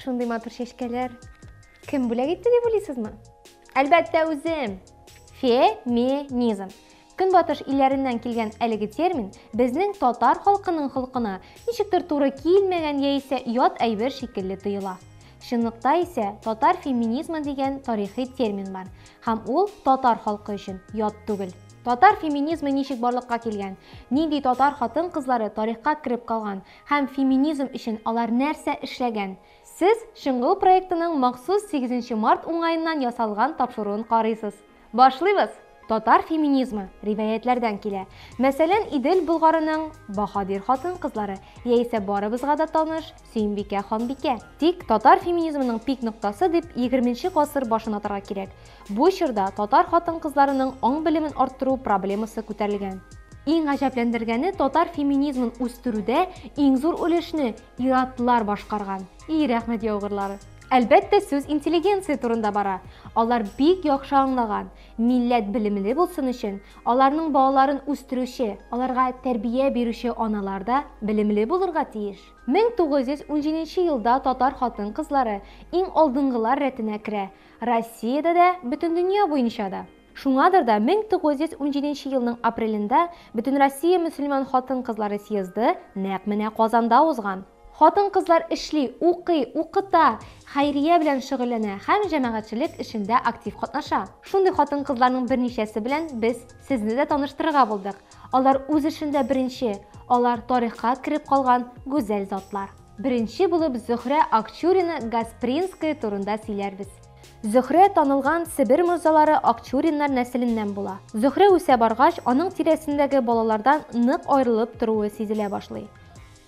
шундый матур чәчкәләр кем бүләк итте дип уйлыйсызмы әлбәттә үзем феминизм Көнбатыш илләреннән килгән әлеге термин безнең татар халкының холкына ничектер туры килмәгән яисә ят әйбер шикелле тоела. Чынлыкта исә татар феминизмы дигән тарихи термин бар һәм ул татар халкы өчен ят түгел. Татар феминизмы ничек барлыкка килгән, нинди татар хатын-кызлары тарихка кереп калган һәм феминизм өчен алар нәрсә эшләгән, сез Чыңгыл проектының махсус сигезенче март уңаеннан ясалган тапшыруын карыйсыз. Башлыйбыз! Татар феминизмы риваятьләрдән килә. Мәсәлән, Идел Болгарының баһадир хатын-кызлары, яисә барыбызга да таныш Сөембикә ханбикә. Тик татар феминизмының пик ноктасы дип егерменче гасыр башын атарга кирәк. Бу чорда татар хатын-кызларының аң-белемен арттыру проблемасы күтәрелгән. Иң гаҗәпләндергәне, татар феминизмын үстерүдә иң зур өлешне ир-атлар башкарган. И рәхмәт яугырлары! Әлбәттә, сүз интеллигенция турында бара. Алар бик яхшы аңлаган, милләт белемле булсын өчен, аларның балаларын үстерүче, аларга тәрбия бирүче аналар да белемле булырга тиеш. 1917 елда татар хатын-кызлары иң алдынгылар рәтенә керә, Россиядә дә, бөтендөнья буенча да. Шуңадыр да 1917 елның апрелендә Бөтенроссия мөселман хатын-кызлары съезды нәкъ менә Казанда узган. Хатын-кызлар эшли, укый, укыта, хәйрия белән шөгыльләнә һәм җәмәгатьчелек эшендә актив катнаша. Шундый хатын-кызларның берничәсе белән без сезне дә таныштырырга булдык. Алар үз эшендә беренче, алар тарихка кереп калган гүзәл затлар. Беренче булып Зөһрә Акчурина Гаспринская турында сөйләрбез. Зөһрә танылган Себер морзалары Акчуриннар нәселеннән була. Зөһрә үсә баргач, аның тирәсендәге балалардан нык аерылып торуы сизелә башлый.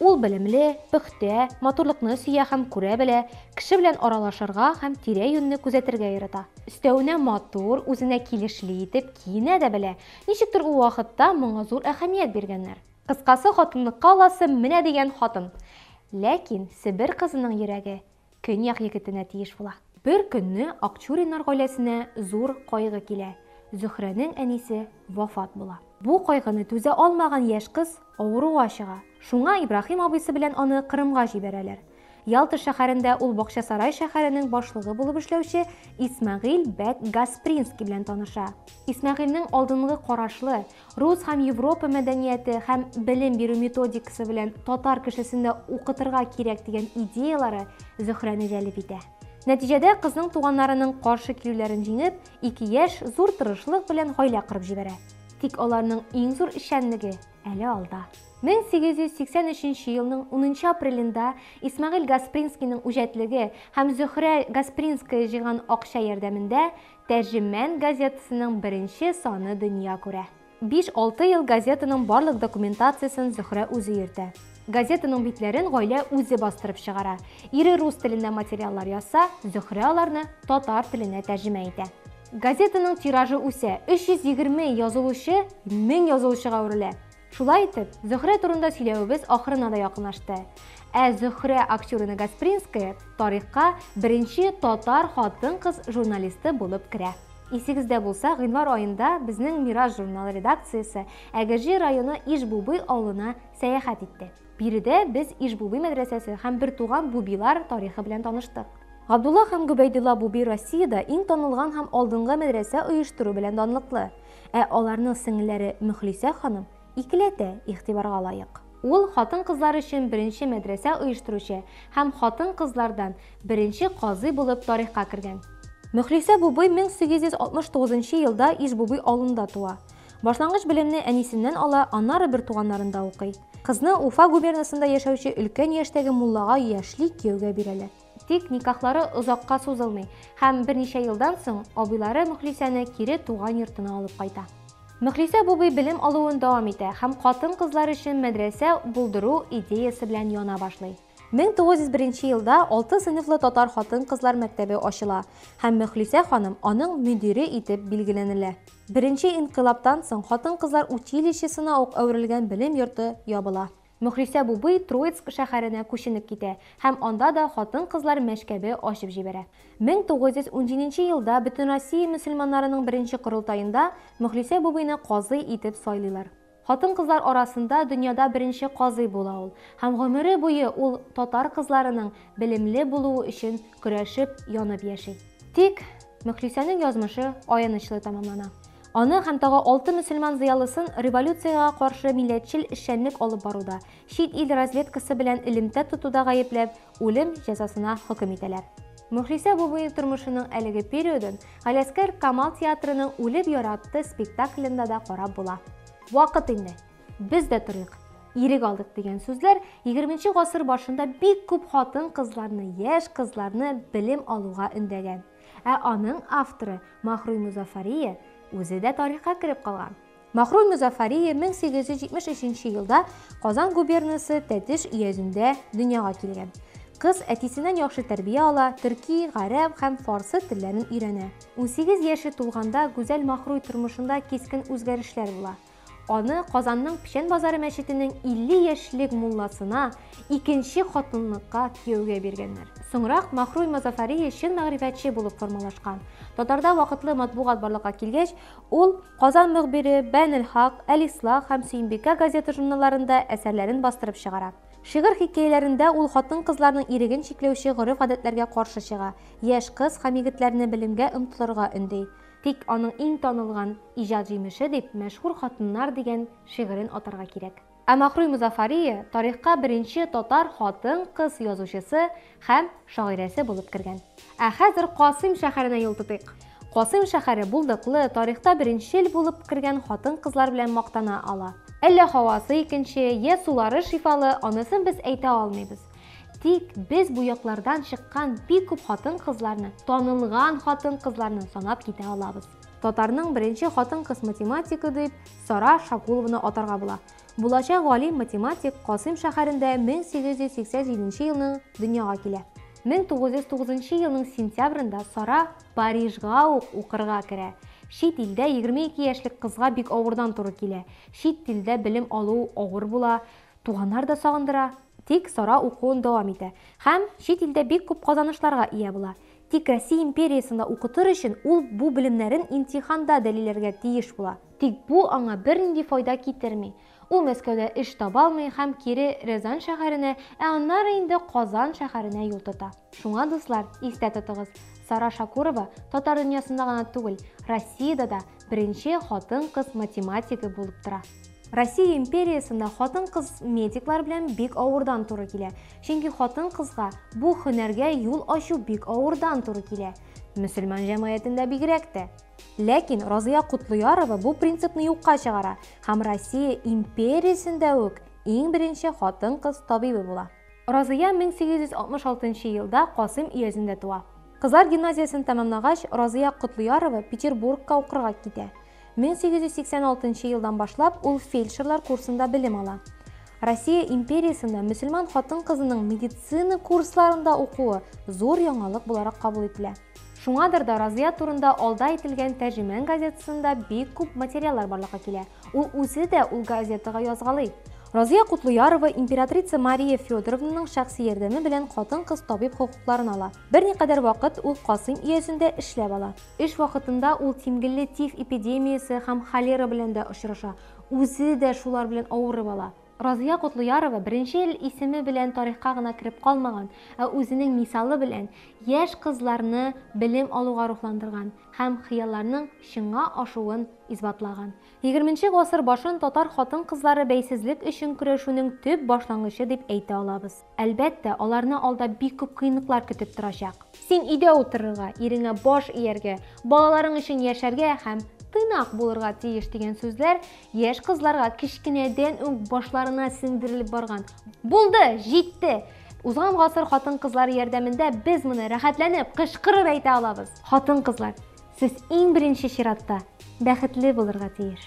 Ул белемле, пөхтә, матурлыкны сөя һәм күрә белә, кеше белән аралашырга һәм тирә-юньне күзәтергә ярата. Өстәвенә матур, үзенә килешле итеп киенә дә белә. Ничектер ул вакытта моңа зур әһәмият биргәннәр. Кыскасы, хатынлыкка аласы менә дигән хатын. Ләкин Себер кызының йөрәге Көньяк егетенә тиеш була. Бер көнне Акчуриннар гаиләсенә зур кайгы килә, Зөһрәнең әнисе вафат була. Бу кайгыны түзә алмаган яшь кыз авыруга чыга. Шуңа Ибраһим абыйсы белән аны Кырымга җибәрәләр. Ялта шәһәрендә ул Бакчасарай шәһәренең башлыгы булып эшләүче Исмәгыйль бәк Гаспринский белән таныша. Исмәгыйльнең алдынгы карашлы, Рус һәм Европа мәдәнияте һәм белем бирү методикасы белән татар кешесен дә укытырга кирәк дигән идеяләре Зөһрәне җәлеп итә. Нәтиҗәдә кызның туганнарының каршы килүләрен җиңеп, ике яшь зур тырышлык белән гаилә корып җибәрә. Тик аларның иң зур эшчәнлеге әле алда. 1883 елның унынчы апрелендә Исмәгыйль Гаспринскийның үҗәтлеге һәм Зөһрә Гаспринская җыйган акча ярдәмендә Тәрҗемән газетасының беренче саны дөнья күрә. Биш-алты ел газетаның барлык документациясен Зөһрә үзе йөртә. Газетаның битләрен гаилә үзе бастырып чыгара. Ире рус телендә материаллар язса, Зөһрә аларны татар теленә тәрҗемә итә. Газетаның тиражы үсә, 320 язылучы мең язылучыга әверелә. Шулай итеп, Зөһрә турында сөйләвебез ахырына да якынлашты. Ә Зөһрә Акчурина Гаспринская тарихка беренче татар хатын-кыз журналисты булып керә. Исегездә булса, гыйнвар аенда безнең Мираж журналы редакциясе Әгерҗе районы Иж-Бубый авылына сәяхәт итте. Биредә без Иж-Бубый мәдрәсәсе һәм бертуган Бубилар тарихы белән таныштык. Габдулла һәм Гөбәйдулла Буби Россиядә иң танылган һәм алдынгы мәдрәсә оештыру белән данлыклы. Ә аларның сеңелләре Мөхлисә ханым икеләтә игътибарга лаек. Ул хатын-кызлар өчен беренче мәдрәсә оештыручы һәм хатын-кызлардан беренче казый булып тарихка кергән. Мөхлисә Бубый 1869 нчы елда Иж-Бубый авылында туа. Башлангыч белемне әнисеннән ала, аннары бертуганнарында укый. Кызны Уфа губернасында яшәүче өлкән яшьтәге муллага яшьли кияүгә бирәләр. Тик никахлары озакка сузылмый һәм берничә елдан соң абыйлары Мөхлисәне кире туган йортына алып кайта. Мөхлисә бубый белем алуын дәвам итә һәм хатын-кызлар өчен мәдрәсә булдыру идеясе белән яна башлый. 1901 елда алты сыйныфлы татар хатын-кызлар мәктәбе ачыла һәм Мөхлисә ханым аның мөдире итеп билгеләнелә. Беренче инкыйлабтан соң хатын-кызлар училищесына ук әверелгән белем йорты ябыла. Мөхлисә бубый Троицк шәһәренә күченеп китә һәм анда да хатын-кызлар мәшкәбе ачып җибәрә. 1917 нче елда Бөтенроссия мөселманнарының беренче корылтаенда Мөхлисә бубыйны казый итеп сайлыйлар. Хатын-кызлар арасында дөньяда беренче казый була ул һәм гомере буе ул татар кызларының белемле булуы өчен көрәшеп, янып яши. Тик Мөхлисәнең язмышы аянычлы тәмамлана. Аны һәм тагы алты мөселман зыялысын революциягә каршы милләтчел эшчәнлек алып баруда, чит ил разведкасы белән элемтә тотуда гаепләп, үлем җәзасына хөкем итәләр. Мөхлисә Бубыйн тормышының әлеге периодын Галәскәр Камал театрының Үлеп яратты спектаклендә дә карап була. Вакыт инде! Без дә торыйк! Ирек алдык! дигән сүзләр егерменче гасыр башында бик күп хатын-кызларны, яшь кызларны белем алуга өндәгән. Ә аның авторы Махруй Музафарие үзе дә тарихка кереп калган. Махруй Музафарие 1873 нче елда Казан губернасы Тәтеш өязендә дөньяга килгән. Кыз әтисеннән яхшы тәрбия ала, төрки, гарәп һәм фарсы телләрен өйрәнә. Унсигез яше тулганда Гүзәл Махруй тормышында кискен үзгәрешләр була. Аны Казанның Печән базары мәчетенең 50 яшьлек мулласына икенче хатынлыкка кияүгә биргәннәр. Соңрак Махруй Мазафарие чын мәгърифәтче булып формалашкан. Татарда вакытлы матбугат барлыкка килгәч, ул Казан мөхбире, Бәйнелхак, Әл-Ислах һәм Сөембикә газета-журналларында әсәрләрен бастырып чыгара. Шигырь-хикәяләрендә ул хатын-кызларның иреген чикләүче гореф-гадәтләргә каршы чыга, яшь кыз һәм егетләрне белемгә омтылырга өнди. Тик аның иң танылган иҗат җимеше дип Мәшһүр хатыннар дигән шигырен атарга кирәк. Ә Махруй Мозафариеа тарихка беренче татар хатын-кыз язучысы һәм шагыйрәсе булып кергән. Ә хәзер Касыйм шәһәренә юл тотыйк. Касыйм шәһәре булдыклы, тарихта беренчел булып кергән хатын-кызлар белән мактана ала. Әллә һавасы икенче, йә сулары шифалы, анысын без әйтә алмыйбыз. Тик без бу яклардан чыккан бик күп хатын-кызларны, танылган хатын-кызларны санап китә алабыз. Татарның беренче хатын-кыз математигы дип Сара Шакулованы атарга була. Булачак галим математик Касыйм шәһәрендә 1887 елның дөньяга килә. 1909 елның сентябрендә Сара Парижга ук укырга керә. Чит илдә 22 яшьлек кызга бик авырдан туры килә. Чит телдә белем алу авыр була, туганнар да сагындыра. Тик Сара укуын дәвам итә һәм чит илдә бик күп казанышларга ия була. Тик Россия империясында укытыр өчен ул бу белемнәрен имтиханда дәлилләргә тиеш була. Тик бу аңа бернинди файда китерми. Ул Мәскәүдә эш таба алмый һәм кире Рязань шәһәренә, ә аннары инде Казан шәһәренә юл тота. Шуңа, дуслар, истә тотыгыз, Сара Шакурова татар дөньясында гына түгел, Россиядә дә Беренче хатын-кыз математигы булып тора. Россия империясында хатын-кыз медиклар белән бик авырдан туры килә. Чөнки хатын-кызга бу хөнәргә юл ачу бик авырдан туры килә. Мөселман җәмгыятендә бигрәк тә. Ләкин Разыя Котлыярова бу принципны юкка чыгара һәм Россия империясендә үк иң беренче хатын-кыз табибы була. Разыя 1866 нчы елда Касыйм өязендә туа. Кызлар гимназиясен тәмамлагач, Разыя Котлыярова Петербургка укырга китә. 1886 нчы елдан башлап ул фельдшерлар курсында белем ала. Россия империясендә мөселман хатын-кызының медицина курсларында укуы зур яңалык буларак кабул ителә. Шуңадыр да Разыя турында алда әйтелгән Тәрҗемән газетасында бик күп материаллар барлыкка килә. Ул үзе дә ул газетага язгалый. Разия Кутлуярова императрица Мария Федоровнаның шәхси ярдәме белән хатын-кыз табиб хокукларын ала. Берникадәр вакыт ул Касыйм өязендә эшләп ала. Эш вакытында ул тимгелле тиф эпидемиясе һәм холера белән дә очраша, үзе дә шулар белән авырып ала. Разыя Котлыярова беренче ел исеме белән тарихка гына кереп калмаган, ә үзенең мисалы белән яшь кызларны белем алуга рухландырган һәм хыялларның чынга ашуын исбатлаган. Егерменче гасыр башын татар хатын-кызлары бәйсезлек өчен көрәшүнең төп башлангычы дип әйтә алабыз. Әлбәттә, аларны алда бик күп кыенлыклар көтеп торачак. Син өйдә утырырга, иреңә баш ияргә, балаларың өчен яшәргә һәм тыйнак булырга тиеш дигән сүзләр яшь кызларга кечкенәдән үк башларына сеңдерелеп барган. Булды, җитте! Узган гасыр хатын-кызлары ярдәмендә без моны рәхәтләнеп кычкырып әйтә алабыз. Хатын-кызлар, сез иң беренче чиратта бәхетле булырга тиеш!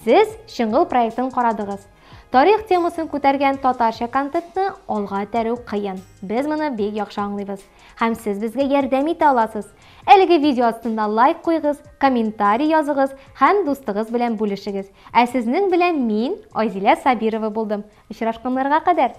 Сез Чыңгыл проектын карадыгыз. Тарих темасын күтәргән татарча контентны алга этәрү кыен. Без моны бик яхшы аңлыйбыз. Һәм сез безгә ярдәм итә аласыз. Әлеге видео астына лайк куйгыз, комментарий языгыз һәм дустыгыз белән бүлешегез. Ә сезнең белән мин, Айзилә Сабирова булдым. Очрашканнарга кадәр!